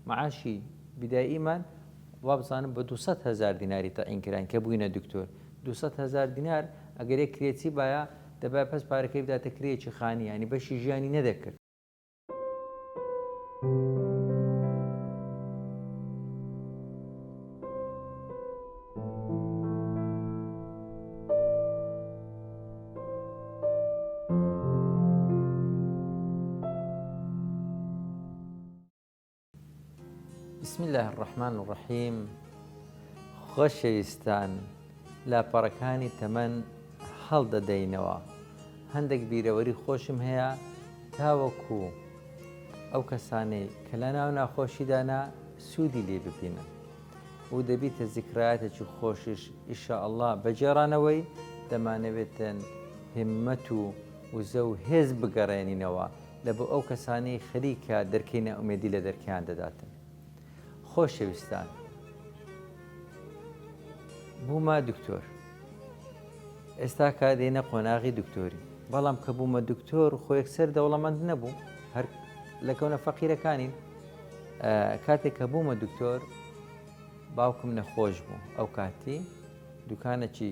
معاشی بداییمان وابزانم بە دوو سەد هەزار دیناری تەعین کراین کە بووینە دکتۆر دوو سەد هەزار دینار ئەگەر یەک کرێچی بایە دەبایە پەس پارەکەی بداتە کرێیەکی خانی یانی بەشی ژیانی نەدەکرد بسم اللە الرحمن الرحیم خۆشەویستان لاپەڕەکانی تەمەن هەڵدەدەینەوە هەندێک بیرەوەری خۆشم هەیە تاوەکو ئەو کەسانەی کە لە ناو ناخۆشیدانا سوودی لێ ببینن و دەبیتە زیکرایەتێکی خۆشیش ئیشە ئەلله بەجێرانەوەی دەمانەوێتن همەت و وزە و هێز بگەڕێنینەوە لە بۆ ئەو کەسانەی خەریکە دەرکەی نائومێدی لە دەرکەیان دەداتن خۆشەویستان بوومە دکتۆر ئێستا کە دێنە قۆناغی دکتۆری بەڵام کە بوومە دکتۆر خۆ یەکسەر دەوڵەمەند نەبوو هەر لە کەونە فەقیرەکانین کاتێک کە بوومە دکتۆر باوکم نەخۆش بوو ئەو کاتی دوکانەکی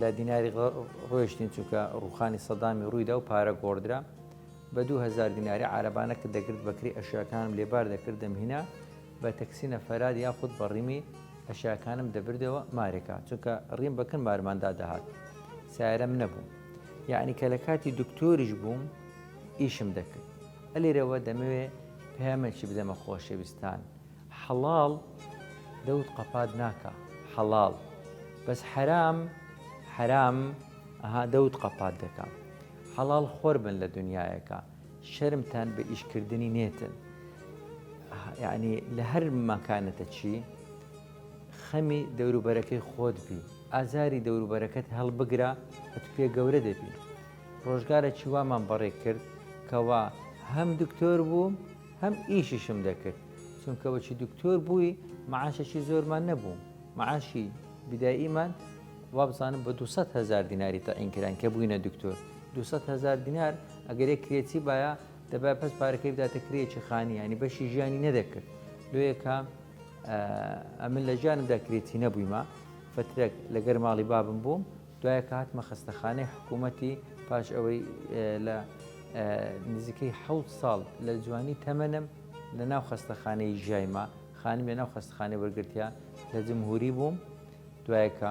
لە دیناری ڕۆیشتین چونکە ڕوخانی سەدامی ڕوویدا و پارە گۆڕدرا بە دوو هزار دیناری عربانە کە دەگرت بەکری ئەشیاکانم لێبار دەکرد دەمهینە بە تەکسینە فەراد یاخود بە ڕیمی ئەشیاکانم دەبردەوە مارێکە چونکە ڕیم بەکن مارماندا دەهات سارەم نەبوو یعنی کە لە کاتی دکتۆریش بووم ئیشم دەکرد ئەلێرەوە دەمەوێ پەیامێکی بدەمە خۆشەویستان حەڵاڵ دەوت قەپات ناکا حەڵاڵ بەس حەرام حەرام ئەها دەوت قەپات دەکا حەڵاڵ خۆر بن لە دنیایەکە شەرمتان بە ئیشکردنی نێتن یعنی لە هەر ماکانەتە چی خەمی دەوروبەرەکەی خۆت بی ئازاری دەوروبەرەکەت هەڵبگرە ئەت پێ گەورە دەبی ڕۆژگارە چیوامان بەڕێ کرد کەوا هەم دکتۆر بوو هەم ئیشیشم دەکرد چونکە وەکی دکتۆر بووی معاشێکی زۆرمان نەبوو معاشی بداییمان وابزانم بە 200 هزار دیناری تەعین کران کە بووینە دکتۆر 200 هزار دینار ئەگەرێک کرێتی باە دەبای پس پارەکەی بداتە کرێکی خانی ینی بەشی ژیانی نەدەکرد لۆیەکە ئەمن لە ژیانمدا کرێتی نەبوویمە فترێک لەگەر ماڵی بابم بووم دوای کە هاتمە خەستەخانەی حکوومەتی پاش ئەوەی لە نزیکەی حەوت ساڵ لە جوانی تەمەنم لە ناو خەستەخانەی ژایما خانم لە ناو خەستخانەی وەرگرتیا لە جمهوری بووم دوایەکە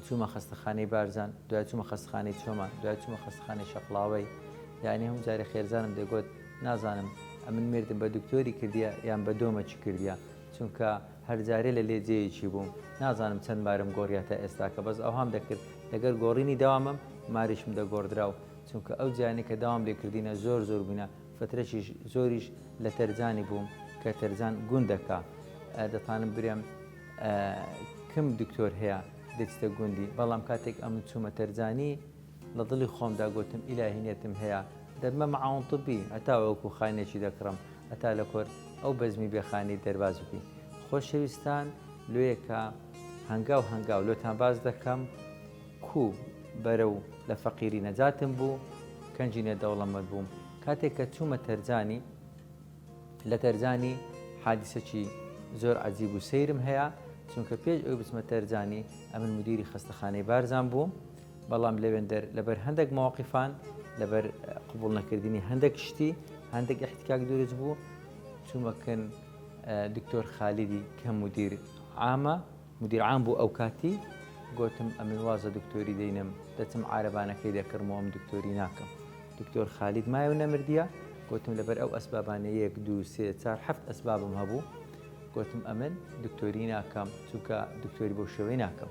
چوومە خەستەخانەی بارزان دوای چوومە خەستخانەی چۆمان دوای چوومە خەستخانەی شەقلاوەی یعنی هەم جارە خێزانم دەگوت نازانم ئەمن مردم بە دکتۆری کردیە یان بە دۆمەچی کردیە چونکە هەر جارێ لە لێ جێیەکی بووم نازانم چەند مارم گۆڕیا تا ئێستاکە بەس ئەوهام دەکرد لەگەر گۆڕینی داوامم ماریشم دەگۆڕدرا و چونکە ئەو جیانەی کە داوام لێ کردینە زۆر زۆر بووینە فترەکیش زۆریش لە تەرجانی بووم کە تەرجان گوندەکە دەتانم برێم کم دکتۆر هەیە دەچتە گوندی بەڵام کاتێک ئەمن چوومە تەرجانی لە دڵی خۆمدا گۆتم ئیلاهی نێتم هەیە دەبمە مەعاون طبی هەتا وەکو خانێکی دەکڕم هەتا لە کۆر ئەو بەزمی بێ خانەی دەرباز ببین خۆشەویستان لۆیەکە هەنگاو هەنگاو لۆتان باس دەکەم کو بەرەو لە فەقیری نەجاتم بوو کەنجی نە دەوڵەمەند بووم کاتێک کە چوومە تەرجانی لە تەرجانی حادیسەکی زۆر عجیب و سەیرم هەیە چونکە پێش ئەو بچمە تەرجانی ئەمن مدیری خەستەخانەی بارزان بووم بەڵام لەوێندەر لەبەر هەندێک مەواقیفان لەبەر قوبول نەکردنی هەندێک شتی هەندێک احتکاک دروست بوو چوومەکەن دکتۆر خالیدی کە مدیر ئامە مدیر عام بوو ئەو کاتی گوتم ئەمن وازە دکتۆری دەینم دەچم عربانەکەی دەکڕمەوەم دکتۆری ناکەم دکتۆر خالید مایە و نەمردە گوتم لەبەر ئەو ئەسبابانە یەک دو سێ چار هەفت ئەسبابم هەبوو گوتم ئەمن دکتۆری ناکەم چونکە دکتۆری بۆ شێوەی ناکەم